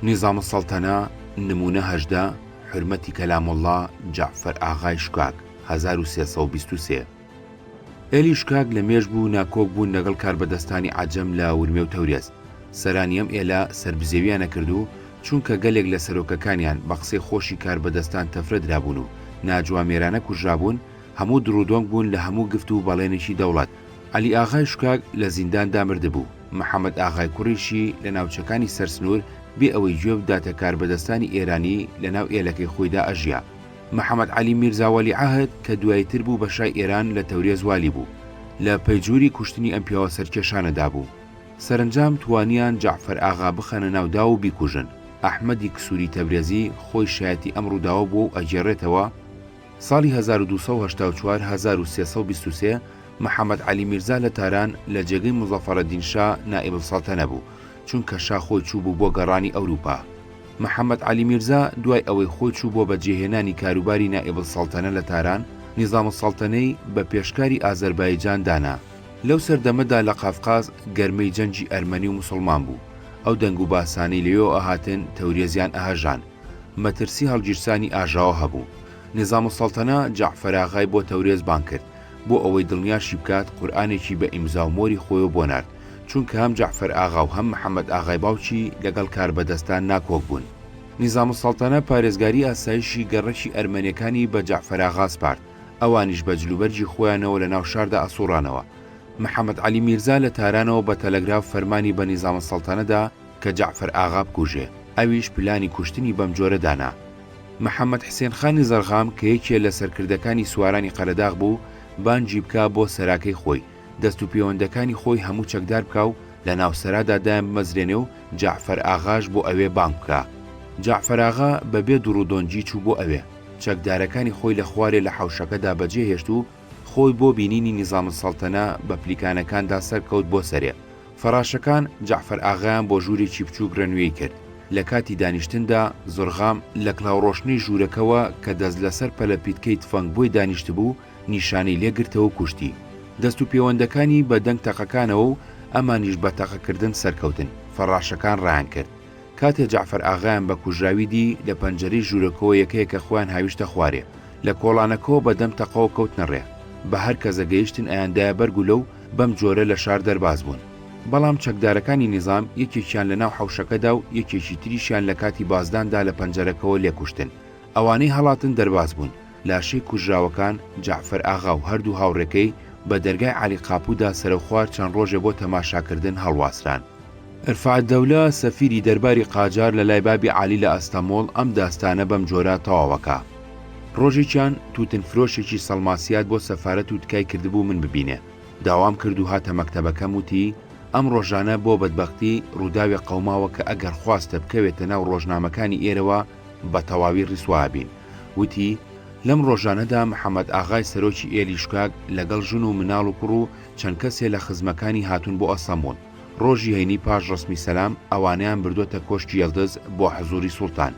نیزام السلطنە، نموونە هەژدە، حورمەتی کەلام اللە، جەعفەر ئاغای شکاک، هەزار و سێ سەد و بیست و سێ. هێلی شکاک لە مێژ بوو ناکۆک بوون لەگەڵ کاربەدەستانی عەجەم لە ورمێ و تەورێز. سەرانی ئەم ئێلە سەربزێویان نەکرد و چونکە گەلێک لە سەرۆکەکانیان بە قسەی خۆشی کاربەدەستان تەفرە درابوون و ناجوامێرانە کوژرابوون، هەموو دڕ و دۆنگ بوون لە هەموو گفت و بەڵێنێکی دەوڵەت. عەلی ئاغای شکاک لە زینداندا مردبوو. محەمەد ئاغای کوڕیشی لە ناوچەکانی سەر سنوور بێ ئەوەی گوێ بداتە کاربەدەستانی ئێرانی لە ناو ئێلەکەی خۆیدا ئەژیا. محەمەد عەلی میرزا وەلیعەهد کە دواییتر بوو بە شای ئێران لە تەورێز والی بوو، لە پەیجووری کوشتنی ئەم پیاوە سەرکێشانەدا بوو. سەرەنجام توانیان جەعفەر ئاغا بخەنە ناو داو و بیکوژن. ئەحمەدی کسووری تەبرێزی خۆی شایەتی ئەم ڕووداوە بووە و ئەگێڕێتەوە، ساڵی هەزار و دوو سەد و هەشتا و چوار هەزار و سێ سەد و بیست و سێ محەمەد عەلی میرزا لە تاران لە جێگەی موزەفەرەدین شا نائیب السەڵتەنە بوو، چونکە شا خۆی چووبوو بۆ گەڕانی ئەوروپا. محەمەد عەلی میرزا دوای ئەوەی خۆی چوو بۆ بەجێهێنانی کاروباری نائیب السەڵتەنە لە تاران، نیزام السەڵتەنەی بە پێشکاری ئازەربایجان دانا. لەو سەردەمەدا لە قافقاز گەرمەی جەنگی ئەرمەنی و موسڵمان بوو، ئەو دەنگ و باسانەی لەوێوە ئەهاتن تەورێزیان ئەهەژان، مەترسی هەڵگیرسانی ئاژاوە هەبوو. نیزاموسەڵتەنە جەعفەراغای بۆ تەورێز بانگ کرد، بۆ ئەوەی دڵنیاشی بکات، قورئانێکی بە ئیمزا و مۆری خۆیەوە بۆ نارد، چونکە هەم جەعفەرئاغا و هەم محەممەدئاغای باوکی لەگەڵ کاربەدەستان ناکۆک بوون. نیزاموسەڵتەنە پارێزگاری ئاسایشی گەڕەکی ئەرمەنەکانی بە جەعفەراغا سپارد، ئەوانیش بە جلوبەرگی خۆیانەوە لە ناو شاردا ئەسووڕانەوە. محەممەدعەلی میرزا لە تارانەوە بە تەلەگراف فەرمانی بە نیزاموسەڵتەنە دا، کە جەعفەر ئاغا بکوژێ، ئەویش پلانی کوشتنی بەم جۆرە دانا. محەمەد حسێن خانی زەڕغام کە یەکێ لە سەرکردەکانی سوارانی قەرەداغ بوو، بانگی بکا بۆ سەراکەی خۆی، دەست و پێوەندەکانی خۆی هەموو چەکدار بکا و لە ناو سەرادا دایان بمەزرێنێ و جەعفەر ئاغاش بۆ ئەوێ بانگ بکا. جەعفەر ئاغا بە بێ دوڕ و دۆنگی چوو بۆ ئەوێ. چەکدارەکانی خۆی لە خوارێ لە حەوشەکەدا بە جێ هێشت و خۆی بۆ بینینی نیزامولسەڵتەنە بە پلیکانەکاندا سەرکەوت بۆ سەرێ. فەڕاشەکان جەعفەر ئاغایان بۆ ژوورێکی بچووک رەنوێی کرد، لە کاتی دانیشتندا زڕغام لە کڵاوڕۆشنەی ژوورەکەوە کە دەست لەسەر پەلەپیتکەی تفەنگبۆی دانیشتبوو نیشانەی لێ گرتەوەو کوشتی. دەست و پێوەندەکانی بە دەنگ تەقەکانەوەو ئەمانیش بە تەقەکردن سەرکەوتن، فەڕاشەکان رایانکرد. کاتێ جەعفەر ئاغایان بە کوژراوی دی، لە پەنجەرەی ژوورەکەوە یەکەیەکە خۆیان هاویشتە خوارێ. لە کۆڵانەکەوە بە دەم تەقەوە کەوتنە ڕێ. بە هەر کە زەگەیشتن ئەیاندایە بەر گولە و بەم جۆرە لە شار دەرباز بوون. بەڵام چەکدارەکانی نیزام یەکێکیان لە ناو حەوشەکەدا و یەکێکی تریشیان لە کاتی بازداندا لە پەنجەرەکەوە لێکوشتن. ئەوانەی هەڵاتن دەرباز بوون. لاشەی کوژراوەکان جەعفەر ئاغا و هەردوو هاوڕێکەی بە دەرگای عەلی قاپوودا سەرەوخوار چەند ڕۆژێ بۆ تەماشاکردن هەڵواسران. رفعتدەولە سەفیری دەرباری قاجار لە لای بابی عەلی لە ئەستەموڵ ئەم داستانە بەم جۆرە تەواوەکا، ڕۆژێکیان تووتن فرۆشێکی سەڵماسیات بۆ سەفارەت و تکای کردبوو من ببینێ، داوام کرد و هاتە مەکتەبەکەم وتی، ئەم ڕۆژانە بۆ بەدبەختی ڕووداوێ قەوماوە کە ئەگەر خواستە بکەوێتە ناو ڕۆژنامەکانی ئێرەوە، بە تەواوی ڕیسوا ئەبین. وتی، لەم ڕۆژانەدا محەمەد ئاغای سەرۆکی ئێلی شکاک لەگەڵ ژن و مناڵ و کوڕ و چەند کەسێ لە خزمەکانی هاتوون بۆ ئەسەموون. ڕۆژی هەینی پاش ڕەسمی سەلام، ئەوانەیان بردۆتە کۆشکی یەڵدز بۆ حزووری سوڵتان.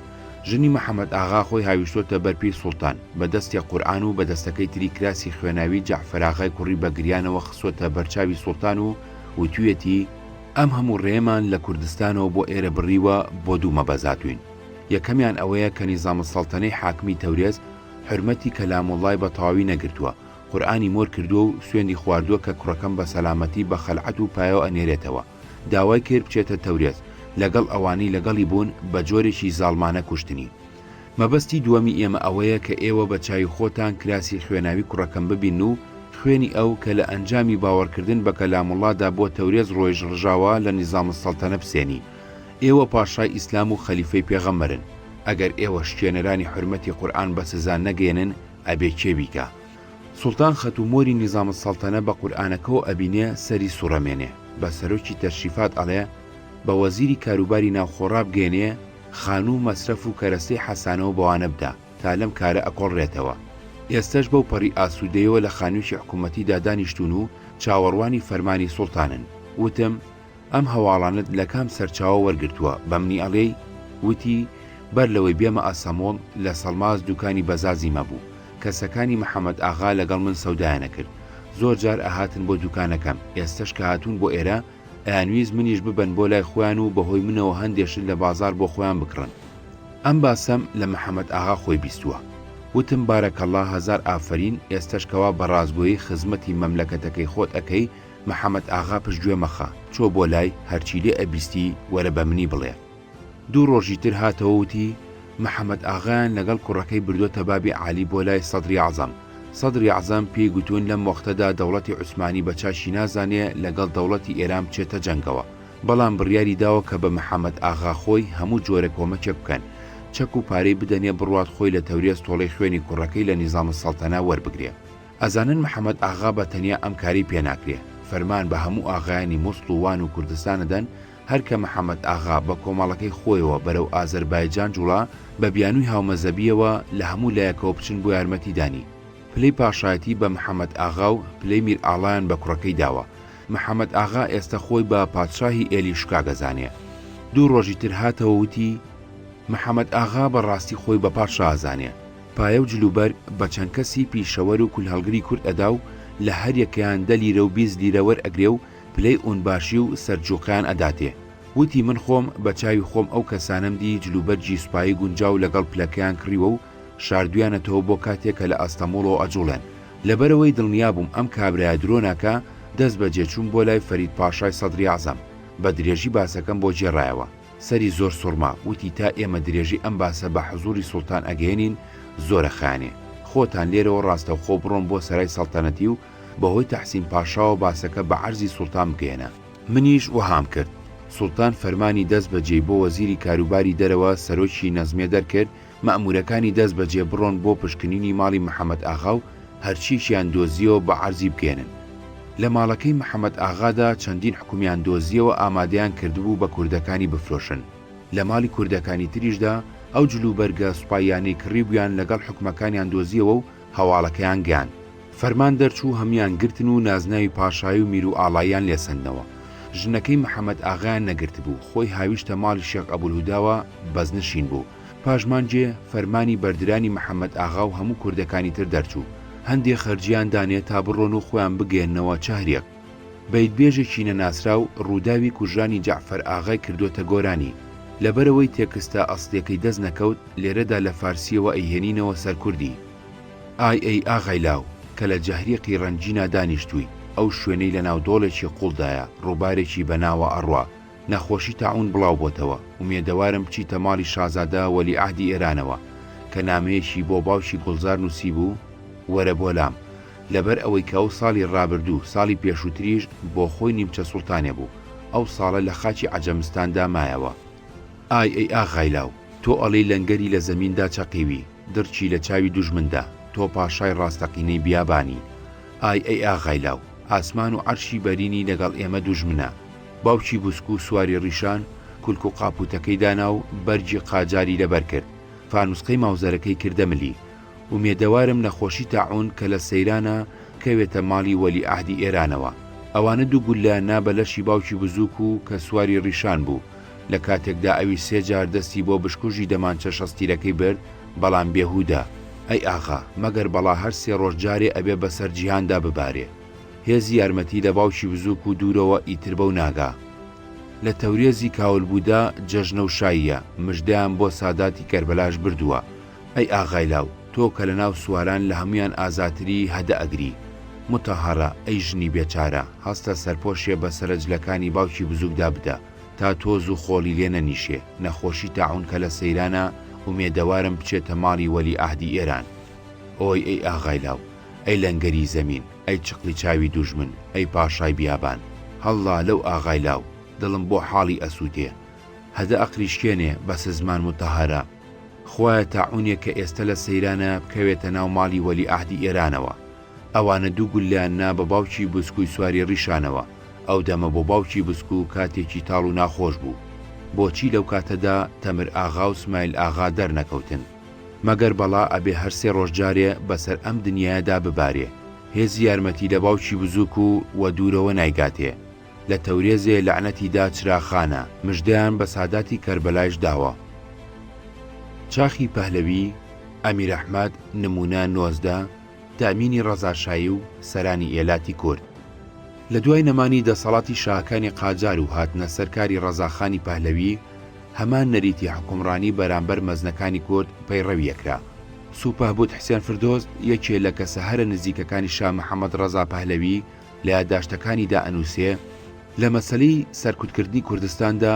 ژنی محەمەد ئاغا خۆی هاویشتۆتە بەر پێی سوڵتان، بە دەستێ قورئان و بە دەستەکەی تری کراسی خوێناوی جەعفەراغای کوڕی بە گریانەوە خستۆتە بەر چاوی سوڵتان و وتویەتی، ئەم هەموو ڕێمان لە کوردستانەوە بۆ ئێرە بڕیوە بۆ دوو مەبەزاتوین یەکەمیان ئەوەیە کە نیزامولسەڵتەنەی حاکمی تەورێز حورمەتی کەلاموڵڵای بە تەواوی نەگرتووە قورئانی مۆر کردووە و سوێندی خواردووە کە کوڕەکەم بە سەلامەتی بە خەلعەت و پایەوە ئەنێرێتەوە داوای کرد بچێتە تەورێز لەگەڵ ئەوانەی لەگەڵی بوون بە جۆرێکی زاڵمانە کوشتنی مەبەستی دووەمی ئێمە ئەوەیە کە ئێوە بە چاوی خۆتان کراسی خوێناوی کوڕەکەم ببین و خوێنی ئەو کە لە ئەنجامی باوەڕکردن بە کەلام اللە دا بۆ تەورێز ڕۆیژ ڕژاوە لە نظام السلطنە بسێنی ئێوە پاشای ئیسلام و خەلیفەی پێغەمبەرن ئەگەر ئێوە شکێنەرانی حورمەتی قورئان بە سزا نەگەیەنن ئەبێ کێ بیکا؟ سوڵتان خەت و مۆری نظام السلطنە بە قورئانەکەوە ئەبینێ سەری سوڕەمێنێ بە سەرۆکی تەشریفات ئەڵێ بە وەزیری کاروباری ناوخۆ ڕابگەیەنێ خانوو مەسرەف و کەرەستەی حەسانەوە بەوانە بدا تا لەم کارە ئەکۆڵرێتەوە. ئێستەش بەو پەڕی ئاسوودەیەوە لە خانوویەکی حکوومەتیدا دانیشتوون و چاوەڕوانی فەرمانی سوڵتانن. وتم، ئەم هەواڵانەت لە کام سەرچاوە وەرگرتووە، بە منی ئەڵێی؟ وتی، بەر لەوەی بێمە ئەسەموڵ، لە سەڵماس دووکانی بەزازیم هەبوو، کەسەکانی محەمەد ئاغا لەگەڵ من سەودایان ئەکرد، زۆر جار ئەهاتن بۆ دووکانەکەم، ئێستەش کە هاتوون بۆ ئێرە، ئەیانویست منیش ببەن بۆ لای خۆیان و بەهۆی منەوە هەندێ شت لە بازاڕ بۆ خۆیان بکڕن. ئەم باسەم لە محەمەد ئاغا خۆی بیستووە. وتم بارک اللە هەزار ئافەرین، ئێستەش کەوا بە ڕاستگۆیی خزمەتی مەملەکەتەکەی خۆت ئەکەی، محەمەد ئاغا پشتگوێ مەخە، چۆ بۆ لای، هەرچی لێ ئەبیستی وەرە بە منی بڵێ. دوو ڕۆژی تر هاتەوە وتی، محەمەد ئاغایان لەگەڵ کوڕەکەی بردۆتە بابی عالی بۆ لای سەدری ئەعزەم. سەدری ئەعزەم پێی گوتوون لەم وەقتەدا دەوڵەتی عوسمانی بە چاکی نازانێ لەگەڵ دەوڵەتی ئێران بچێتە جەنگەوە. بەڵام بڕیاری داوە کە بە محەمەد ئاغا خۆی هەموو جۆرە کۆمەکێک بکەن. چەک و پارەی بدەنێ بڕوات خۆی لە تەورێز تۆڵەی خوێنی کوڕەکەی لە نیزام السلطنە وەربگرێ. ئەزانن محەمەد ئاغا بە تەنیا ئەم کارەی پێ ناکرێ. فەرمان بە هەموو ئاغایانی موسڵ و وان و کوردستان ئەدەن، هەر کە محەمەد ئاغا بە کۆمەڵەکەی خۆیەوە بەرەو ئازەربایجان جوڵا، بە بیانووی هاومەزەبییەوە لە هەموو لایەکەوە بچن بۆ یارمەتیدانی، پلەی پاشایەتی بە محەمەد ئاغا و پلەی میرئاڵایان بە کوڕەکەی داوە. محەمەد ئاغا ئێستە خۆی بە پادشاهی ئێلی شکا دەزانێ. دوو ڕۆژی تر هاتەوە وتی، محەمەد ئاغا بە ڕاستی خۆی بە پادشا ئەزانێ. پایە و جلوبەرگ بە چەند کەسی پیشەوەر و کولهەڵگری کورد ئەدا و لە هەر یەکەیان دە لیرە و بیست لیرە وەرئەگرێ و پلەی ئونباشی و سەرجوقیان ئەداتێ. وتی من خۆم بە چاوی خۆم ئەو کەسانەم دی جل و بەرگی سوپایی گونجاو لەگەڵ پلەکەیان کڕیوە و شاردویانەتەوە بۆ کاتێ کە لە ئەستەموڵەوە ئەجوڵێن. لەبەرئەوەی دڵنیا بووم ئەم کابرایە درۆ ناکا، دەست بەجێ چووم بۆ لای فەرید پاشای سەدری ئەعزەم. بە درێژی باسەکەم بۆ گێڕایەوە. سەری زۆر سوڕما. وتی تا ئێمە درێژی ئەم باسە بە حزووری سوڵتان ئەگەیەنین، زۆرە خایەنێ. خۆتان لێرەوە ڕاستەوخۆ بڕۆن بۆ سەرای سەڵتەنەتی و بەهۆی تەحسین پاشاوە باسەکە بە عەرزی سوڵتان بگەیەنە. منیش وەهام کرد. سوڵتان فەرمانی دەست بەجێی بۆ وەزیری کاروباری دەرەوە سەرۆکی نەزمیە دەرکرد، مەئموورەکانی دەست بەجێ بڕۆن بۆ پشکنینی ماڵی محەمەد ئاغا و هەرچییەکیان دۆزییەوە بە عەرزی بگەیەنن. لە ماڵەکەی محەمەد ئاغادا چەندین حوکمیان دۆزییەوە ئامادەیان کردبوو بە کوردەکانی بفرۆشن. لە ماڵی کوردەکانی تریشدا ئەو جلوبەرگە سوپاییانەی کڕیبوویان لەگەڵ حوکمەکانیان دۆزییەوە و هەواڵەکەیان گەیاند فەرمان دەرچوو هەموویان گرتن و نازناوی پاشایی و میرو ئاڵاییان لێ سەندنەوە ژنەکەی محمد ئاغایان نەگرتبوو خۆی هاویشتە ماڵی شێخ ئەبولهوداوە بەزنشین بوو پاش مانگێ فەرمانی بەردرانی محمد ئاغا و هەموو کوردەکانی تر دەرچوو هەندێ خەرجیان دانێ تا بڕۆن و خۆیان بگەیەننەوە چهریەک. بەیتبێژێکی نەناسراو ڕووداوی کوژرانی جەعفەر ئاغای کردووەتە گۆرانی، لەبەرئەوەی تێکستە ئەسڵیەکەی دەست نەکەوت لێرەدا لە فارسییەوە ئەیهێنینەوە سەر کوردی، ئای ئەی ئاغای لاو کە لە جهریقی ڕەنجینا دانیشتووی، ئەو شوێنەی لەناو دۆڵێکی قووڵدایە ڕووبارێکی بەناوە ئەڕوا، نەخۆشی تاعون بڵاو بۆتەوە، ئومێدەوارم بچیتە ماڵی شازادە وەلیعەهدی ئێرانەوە کە نامەیەکی بۆ باوکی گوڵزار نووسیبوو، وەرە بۆ لام، لەبەر ئەوەی کە ئەو ساڵی ڕابردوو، ساڵی پێشووتریش بۆ خۆی نیمچە سوڵتانێ بوو، ئەو ساڵە لە خاکی عەجەمستاندا مایەوە. ئای ئەی ئاغای لاو، تۆ ئەڵێی لەنگەری لە زەمیندا چەقیوی، دڕکی لە چاوی دوژمندا، تۆ پاشای ڕاستەقینەی بیابانی. ئای ئەی ئاغای لاو، ئاسمان و عەرشی بەرینی لەگەڵ ئێمە دوژمنە. باوکی بوسکو سواری ڕیشان، کولک و قاپووتەکەی دانا و بەرگی قاجاری لەبەر کرد، فانووسقەی ماوزەرەکەی کردە ملی. ئومێدەوارم نەخۆشی تاعوون کە لە سەیرانە، کەوێتە ماڵی وەلیعەهدی ئێرانەوە. ئەوانە دوو گوللە نا بە لەشی باوکی بزووک و کە سواری ڕیشان بوو، لە کاتێکدا ئەویش سێ جار دەستی بۆ بشکوژی دەمانچە شەستیرەکەی برد، بەڵام بێهوودە. ئەی ئاغا، مەگەر بەڵا هەر سێ ڕۆژ جارێ ئەبێ بەسەر جیهاندا ببارێ! هێزی یارمەتی لە باوکی بزووک و دوورەوە ئیتر بەو ناگا لە تەورێزی کاول بوودە جەژنە و شاییە مژدەیان بۆ ساداتی کەربەلاش بردووە ئەی ئاغای لاو تۆ کە لە ناو سواران لە هەموویان ئازاتری هەدە ئەگری متەهەڕە ئەی ژنی بێچارە هەستە سەرپۆشێ بە سەرە جلەکانی باوکی بزووکدا بدە تا تۆز و خۆڵی لێ نەنیشێ نەخۆشی تاعوون کە لە سەیرانە ئومێدەوارم بچێتە ماڵی وەلی ئەهدی ئێران ئۆی ئەی ئاغای لاو ئەی لەنگەری زەمین، ئەی چقڵی چاوی دوژمن، ئەی پاشای بیابان، هەڵڵا لەو ئاغای لاو، دڵم بۆ حاڵی ئەسووتێ. هەدە ئەقریشکێنێ، بەسە زمان متەهەرە. خوایە تاعوونێک کە ئێستە لە سەیرانە، بکەوێتە ناو ماڵی وەلیعەهدی ئێرانەوە. ئەوانە دوو گوللەیان نا بە باوکی بسکووی سواری ڕیشانەوە، ئەو دەمە بۆ باوکی بسکوو کاتێکی تاڵ و ناخۆش بوو. بۆچی لەو کاتەدا تەمر ئاغا و سمایل ئاغا دەرنەکەوتن؟ مەگەر بەڵا ئەبێ هەر سێ ڕۆژ جارێ بەسەر ئەم دنیایەدا ببارێ. هێزی یارمەتی لە باوکی بزووک و وە دوورەوە نایگاتێ. لە تەورێزێ لەعنەتی دا چراخانە، مژدەیان بە ساداتی کەربەلایش داوە. چاخی پەهلەوی، ئەمیر ئەحمەد، نموونە، نۆزدە، تەئمینی ڕەزاشایی و سەرانی ئێلاتی کورد. لە دوای نەمانی دەسەڵاتی شاهەکانی قاجار و هاتنە سەر کاری ڕەزاخانی پەهلەوی، هەمان نەریتی حوکمڕانی بەرامبەر مەزنەکانی کورد پەیڕەوی ئەکرا. سوپهبوت حسێن فردۆس یەکێ لە کەسە هەرە نزیکەکانی شا محەمەد ڕەزا پەهلەوی لە یاداشتەکانیدا ئەنووسێ، لە مەسەلەی سەرکوتکردنی کوردستاندا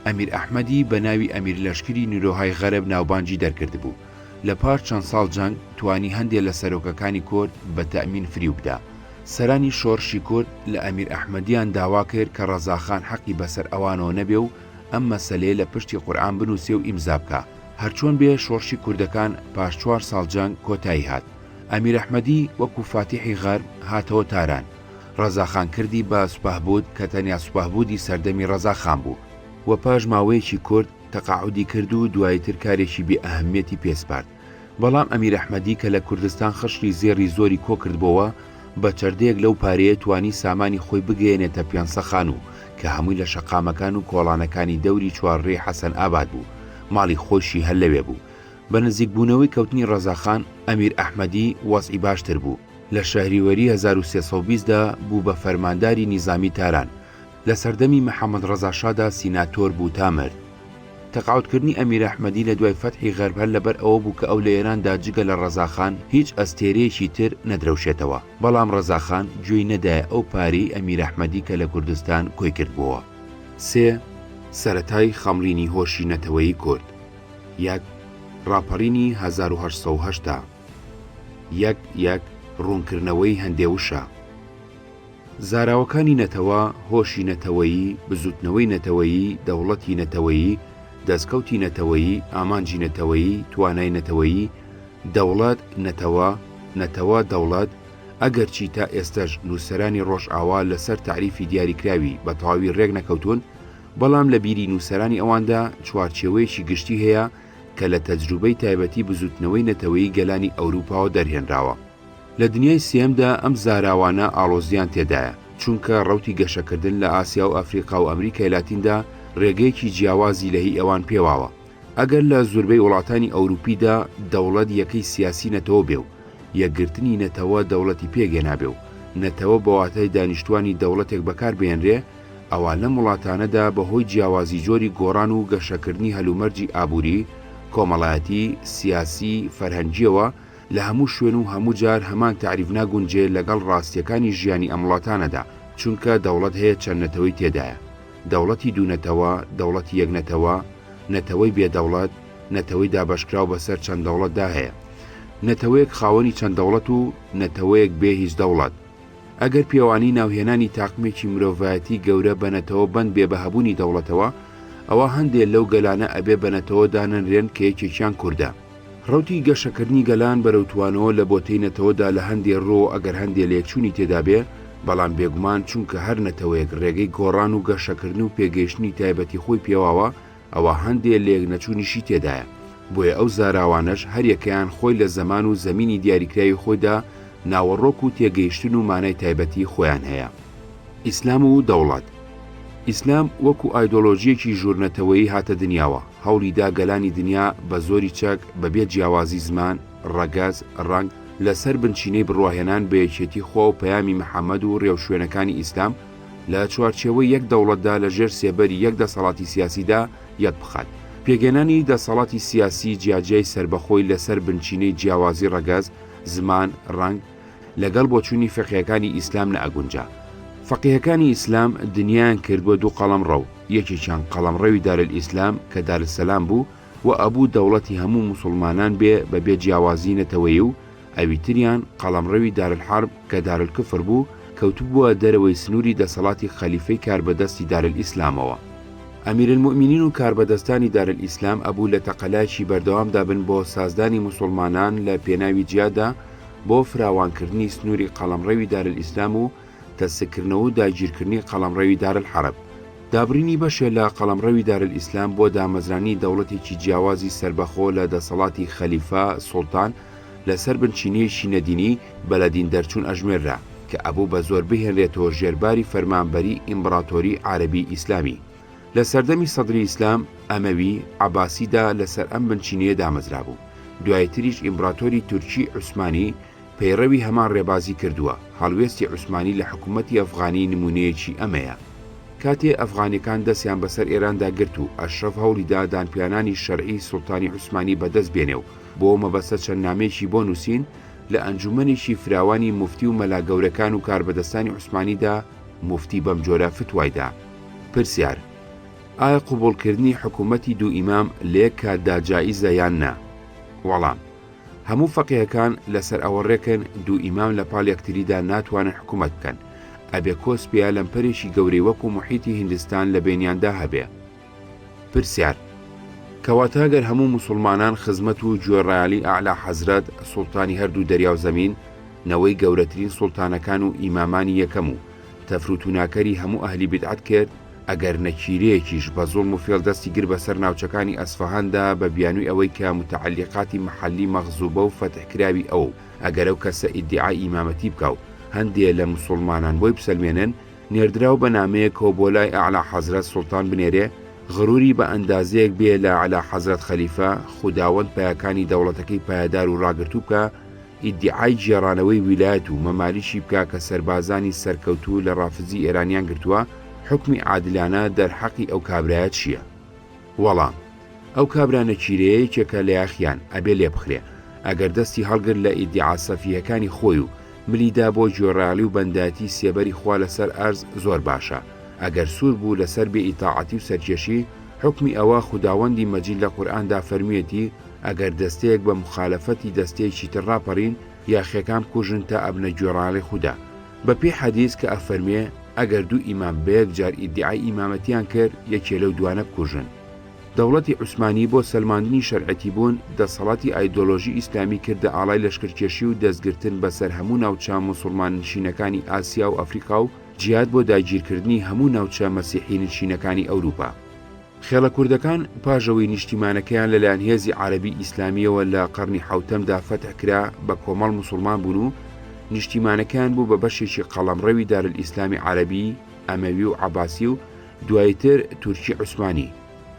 ئەمیر ئەحمەدی بە ناوی ئەمیر لەشکری نورۆهای غەرب ناوبانگی دەرکردبوو، لە پاش چەند ساڵ جەنگ توانی هەندێ لە سەرۆکەکانی کورد بە تەئمین فریو بدا. سەرانی شۆڕشی کورد لە ئەمیر ئەحمەدیان داوا کرد کە ڕەزاخان حەقی بەسەر ئەوانەوە نەبێ و ئەم مەسەلەیە لە پشتی قورئان بنووسێ و ئیمزا بکا. هەرچۆن بێ شۆڕشی کوردەکان پاش چوار ساڵ جەنگ کۆتایی هات. ئەمیر ئەحمەدی وەکوو فاتیحی غەرب هاتەوە تاران. ڕەزا خان کردی بە سپهبود کە تەنیا سپهبودی سەردەمی ڕەزا خان بوو و پاش ماوەیەکی کورت تەقاعودی کرد و دوایی تر کارێکی بێ ئەهمییەتی پێ سپارد. بەڵام ئەمیر ئەحمەدی کە لە کوردستان خشڵی زێڕی زۆری کۆکردبۆوە، بە چەردەیەک لەو پارەیە توانی سامانی خۆی بگەیەنێتە پیانسەخانوو کە هەمووی لە شەقامەکان و کۆڵانەکانی دەوری چوارڕێی حەسەن ئاباد بوو، ماڵی خۆیشی هەر لەوێ بوو. بە نزیکبوونەوەی کەوتنی ڕەزاخان، ئەمیر ئەحمەدی وەزعی باشتر بوو. لە شەهریوەری هەزار و سێ سەد و بیست دا بوو بە فەرمانداری نیزامی تاران، لە سەردەمی محمد ڕەزا شادا سیناتۆر بوو تا مرد. تقاعد کردنی ئەمیر ئەحمەدی لە دوای فەتحی غەرب هەر لەبەر ئەوە بوو کە ئەو لە ئێراندا جگە لە ڕەزا خان هیچ ئەستێرەیەکی تر نەدرەوشێتەوە، بەڵام ڕەزا خان گوێی نەدایە ئەو پارەی ئەمیر ئەحمەدی کە لە کوردستان کۆی کردبۆوە. سێ، سەرەتای خەمڵینی هۆشی نەتەوەیی کورد. یەک، ڕاپەڕینی هەزار و هەشت سەد و هەشتا. یەک یەک، ڕوونکردنەوەی هەندێ وشە. زاراوەکانی نەتەوە، هۆشی نەتەوەیی، بزووتنەوەی نەتەوەیی، دەوڵەتی نەتەوەیی، دەستکەوتی نەتەوەیی، ئامانجی نەتەوەیی، توانای نەتەوەیی، دەوڵەت، نەتەوە، نەتەوە، دەوڵەت، ئەگەرچی تا ئێستەش نووسەرانی ڕۆژئاوا لەسەر تەعریفی دیاریکراوی بە تەواوی ڕێک نەکەوتوون، بەڵام لە بیری نووسەرانی ئەواندا چوارچێوەیەکی گشتی هەیە کە لە تەجروبەی تایبەتی بزووتنەوەی نەتەوەیی گەلانی ئەوروپاوە دەرهێنراوە. لە دنیای سێیەمدا ئەم زاراوانە ئاڵۆزییان تێدایە، چونکە ڕەوتی گەشەکردن لە ئاسیا و ئەفریقا و ئەمریکای لاتیندا ڕێگەیەکی جیاوازی لە هی ئەوان پێواوە. ئەگەر لە زوربەی وڵاتانی ئەوروپیدا دەوڵەت یەکەی سیاسی نەتەوە بێ و یەکگرتنی نەتەوە دەوڵەتی پێکهێنابێ و نەتەوە بە واتای دانیشتوانی دەوڵەتێک بەکار بهێنرێ، ئەوا لەم وڵاتانەدا بە هۆی جیاوازی جۆری گۆڕان و گەشەکردنی هەلومەرجی ئابووری، کۆمەڵایەتی، سیاسی، فەرهەنگییەوە، لە هەموو شوێن و هەموو جار هەمان تەعریف ناگونجێ لەگەڵ ڕاستییەکانی ژیانی ئەم وڵاتانەدا، چونکە دەوڵەت هەیە چەند نەتەوەی تێدایە، دەوڵەتی دوو نەتەوە، دەوڵەتی یەک نەتەوە، نەتەوەی بێ دەوڵەت، نەتەوەی دابەشکراو بەسەر چەند دەوڵەتدا هەیە. نەتەوەیەک خاوەنی چەند دەوڵەت و نەتەوەیەک بێ هیچ دەوڵەت. ئەگەر پێوانەی ناوهێنانی تاقمێکی مرۆڤایەتی گەورە بە نەتەوە بەند بێ بە هەبوونی دەوڵەتەوە، ئەوا هەندێ لەو گەلانە ئەبێ بە نەتەوە دانەنرێن کە یەکێکیان کوردە. رەوتی گەشەکردنی گەلان بەرەو توانەوە لە بۆتەی نەتەوەدا لە هەندێ رۆ ئەگەر هەندێ لێکچوونی تێدا بێ، بەڵام بێگومان چونکە هەر نەتەوەیەک رێگەی گۆڕان و گەشەکردن و پێگەیشتنی تایبەتی خۆی پێواوە ئەوا هەندێ لێک نەچوونیشی تێدایە بۆیە ئەو زاراوانەش هەر یەکەیان خۆی لە زەمان و زەمینی دیاریکراوی خۆیدا ناوەڕۆک و تێگەیشتن و مانای تایبەتی خۆیان هەیە. ئیسلام و دەوڵەت ئیسلام وەکو ئایدۆلۆژییەکی ژوورنەتەوەیی هاتە دنیاوە، هەوڵی دا گەلانی دنیا بە زۆری چەک، بەبێ جیاوازی زمان، ڕەگەز، ڕەنگ، لە سەر بنچینەی بڕواهێنان بە یەکێتی خوا و پەیامی محەمەد و ڕێوشوێنەکانی ئیسلام، لە چوارچێوەی یەک دەوڵەتدا لە ژێر سێبەری یەک دەسەڵاتی سیاسیدا یەک بخات. پێکهێنانی دەسەڵاتی سیاسی جیاجیای سەربەخۆی لە سەر بنچینەی جیاوازی ڕەگەز، زمان، ڕەنگ، لەگەڵ بۆچوونی فیقهیەکانی ئیسلام نەئەگونجا. فەقیهەکانی ئیسلام دنیایان کردبووە دوو قەڵەمڕەو، یەکێکیان قەڵەمڕەوی دارالئیسلام کە دارسەلام بوو و ئەبوو دەوڵەتی هەموو موسوڵمانان بێ بەبێ جیاوازی نەتەوەی و ئەوی تریان قەڵەمڕەوی دارالحەرب کە دارالکفر بوو کەوتبووە دەرەوەی سنووری دەسەڵاتی خەلیفەی کاربەدەستی دارالئیسلامەوە. ئەمیرالموئمینین و کاربەدەستانی دارالئیسلام ئەبوو لە تەقەلایەکی بەردەوامدا بن بۆ سازدانی موسوڵمانان لە پێناوی جیاددا، بۆ فراوانکردنی سنووری قەڵەمڕەوی دارلئیسلام و تەسککردنەوە و داگیرکردنی قەڵەمڕەوی دارلحەرب. دابڕینی بەشێ لە قەڵەمڕەوی دارلئیسلام بۆ دامەزرانی دەوڵەتێکی جیاوازی سەربەخۆ لە دەسەڵاتی خەلیفە، سوڵتان، لەسەر بنچینەیەکی نەدینی، بە لە دین دەرچوون ئەژمێررا، کە ئەبوو بە زۆر بهێنرێتەوە ژێر باری فەرمانبەریی ئیمبڕاتۆریی عارەبیی ئیسلامی. لە سەردەمی سەدری ئیسلام، ئەمەوی، عەباسی دا لە سەر ئەم بنچینەیە دامەزرابوو، دوای تریش ئیمبڕاتۆری تورکی عوسمانی پەیڕەوی هەمان ڕێبازی کردووە، هەڵوێستی عوسمانی لە حکوومەتی ئەفغانی نموونەیەکی ئەمەیە. کاتێ ئەفغانەکان دەستیان بە سەر ئێراندا گرت و ئەشرەف هەوڵی دا دانپیانانی شەرعیی سوڵتانی عوسمانی بە دەست بێنێ و بۆ ئەو مەبەستە چەند نامەیەکی بۆ نووسین لە ئەنجوومەنێکی فراوانی موفتی و مەلا گەورەکان و کاربەدەستانی عوسمانی دا موفتی بەم جۆرە فتوای دا. پرسیار، ئایا قبوڵکردنی حکوومەتی دوو ئیمام لە یەک کاتدا جائیزە یان نا؟ وەڵام، هەموو فەقێهەکان لەسەر ئەوە ڕێکن دوو ئیمام لە پاڵ یەکتریدا ناتوانن حکوومەت بکەن، ئەبێ کۆسپێیە لەمپەرێکی گەورەی وەکوو موحیتی هیندستان لە بەینیاندا هەبێ. پرسیار، کەواتە گەر هەموو موسوڵمانان خزمەت و گوێڕایەڵی ئەعلا حەزرەت، سوڵتانی هەردوو دەریاو زەمین، نەوەی گەورەترین سوڵتانەکان و ئیمامانی یەکەم و تەفرو توناکەری هەموو ئەهلی بیدعەت کرد، ئەگەر نەکیرەیەکیش بە زوڵم و فێڵ دەستی گرت بەسەر ناوچەکانی ئەسفەهاندا بە بیانوی ئەوەی کە متعەلیقاتی مەحەلی مەغزوبە و فەتح کراوی ئەوە و ئەگەر ئەو کەسە ئیدیعای ئیمامەتی بکا و هەندێ لە موسوڵمانان بۆی بسەلمێنن، نێردراو بە نامەیەکەوە بۆ لای ئەعلا حەزرەت سوڵتان بنێرێ، غروری بە ئەندازەیەک بێ لە ئەعلا حەزرەت خەلیفە، خوداوەند پایەکانی دەوڵەتەکەی پایەدار و ڕاگرتوو بکا، ئیدیعای گێڕانەوەی ویلایەت و مەمالیکی بکا کە سەربازانی سەرکەوتوو لە ڕافزی ئێرانیان گرتووە، حوکمی عادلانە دەرحەقی ئەو کابرایە چییە؟ وەڵام. ئەو کابرا نەکیرەیە یەکێکە لە یاخیان، ئەبێ لێبخرێ. ئەگەر دەستی هەڵگرت لە ئیدیعا سەفیهەکانی خۆی و ملی دا بۆ گوێڕایەڵی و بەندایەتی سێبەری خوا لە سەر ئەرز زۆر باشە. ئەگەر سوور بوو لە سەر بێ ئیتاعەتی و سەرکێشی، حوکمی ئەوە خوداوەندی مەجید لە قورئاندا فەرموویەتی، ئەگەر دەستەیەک بە موخالەفەتی دەستەیەکی تر ڕاپەڕین، یاخیەکان بکوژن تا ئەبنە گوێڕایەڵی خودا. بە پێی حەدیس کە ئەفەرموێ، ئەگەر دوو ئیمام بە یەک جار ئیدیعای ئیمامەتیان کرد، یەکێ لەو دوانە بکوژن. دەوڵەتی عوسمانی بۆ سەلماندنی شەرعەتیبوون، دەسەڵاتی ئایدۆلۆژی ئیسلامی کردە ئاڵای لەشکرکێشی و دەستگرتن بەسەر هەموو ناوچە موسوڵماننشینەکانی ئاسیا و ئەفریقا و جیهاد بۆ داگیرکردنی هەموو ناوچە مەسیحینشینەکانی ئەوروپا. خێڵە کوردەکان پاش ئەوەی نیشتیمانەکەیان لەلایەن هێزی عەرەبی ئیسلامییەوە لە قەڕنی حەوتەمدا فەتح کرا، بە کۆمەڵ موسوڵمان بوون و نیشتیمانەکەیان بوو بە بەشێکی قەڵەمڕەوی دارالئیسلامی عەرەبی، ئەمەوی و عەباسی و، دوایتر تورکی عوسمانی.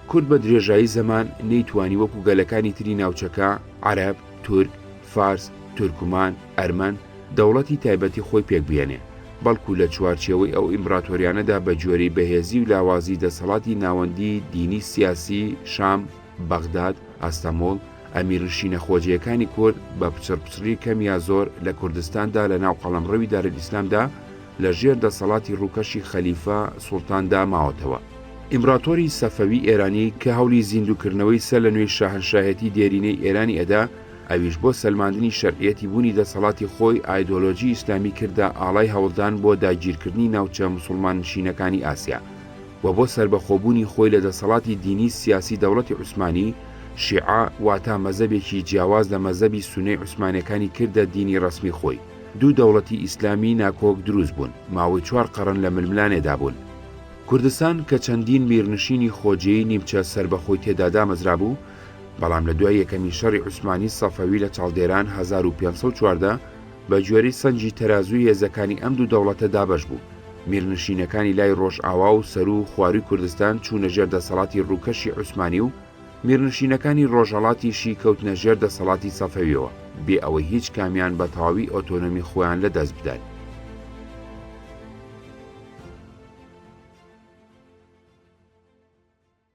کورد بە درێژایی زەمان نەیتوانی وەکو گەلەکانی تری ناوچەکە، عەرەب، تورک، فارس، تورکمان، ئەرمەن، دەوڵەتی تایبەتی خۆی پێک بهێنێ، بەڵکو لە چوارچێوەی ئەو ئیمبراتۆریانەدا بە گوێرەی بەهێزی و لاوازی دەسەڵاتی ناوەندی دینی سیاسی شام، بەغداد، ئەستەموڵ، ئەمیرنشینە خۆجێیەکانی کورد بە پچڕپچڕی کەم یا زۆر لە کوردستاندا لە ناو قەڵەمڕەوی دارالئیسلامدا لە ژێر دەسەڵاتی ڕووکەشی خەلیفە سوڵتاندا ماوەتەوە. ئیمبڕاتۆری سەفەوی ئێرانی کە هەوڵی زیندووکردنەوەی سەر لە نوێی شاهەنشاهێتی دێرینەی ئێرانی ئەدا، ئەویش بۆ سەلماندنی شەرعیەتی بوونی دەسەڵاتی خۆی ئایدۆلۆجی ئیسلامی کردە ئاڵای هەوڵدان بۆ داگیرکردنی ناوچە موسوڵمان نشینەکانی ئاسیا و بۆ سەربەخۆبوونی خۆی لە دەسەڵاتی دینی سیاسی دەوڵەتی عوسمانی شیعە واتا مەزەبێکی جیاواز لە مەزەبی سونەی عوسمانێکانی کردە دینی ڕەسمی خۆی. دوو دەوڵەتی ئیسلامی ناکۆک دروست بوون، ماوەی چوار قەڕن لە ململانێدا بوون. کوردستان کە چەندین میرنشینی خۆجێی نیمچە سەربەخۆی تێدا دامەزرابوو، بەڵام لە دوای یەکەمین شەڕی عوسمانی سەفەوی لە چاڵدێران هەزار و پێنج سەد و چواردە، بە گوێرەی سەنگی تەرازووی هێزەکانی ئەم دوو دەوڵەتە دابەش بوو، میرنشینەکانی لای ڕۆژئاوا و سەروو و خوارووی کوردستان چوونە ژێر دەسەڵاتی ڕووکەشی عوسمانی و، میرنشینەکانی ڕۆژهەڵاتیشی کەوتنە ژێر دەسەڵاتی سەفەویەوە، بێ ئەوەی هیچ کامیان بە تەواوی ئۆتۆنۆمی خۆیان لە دەست بدەن.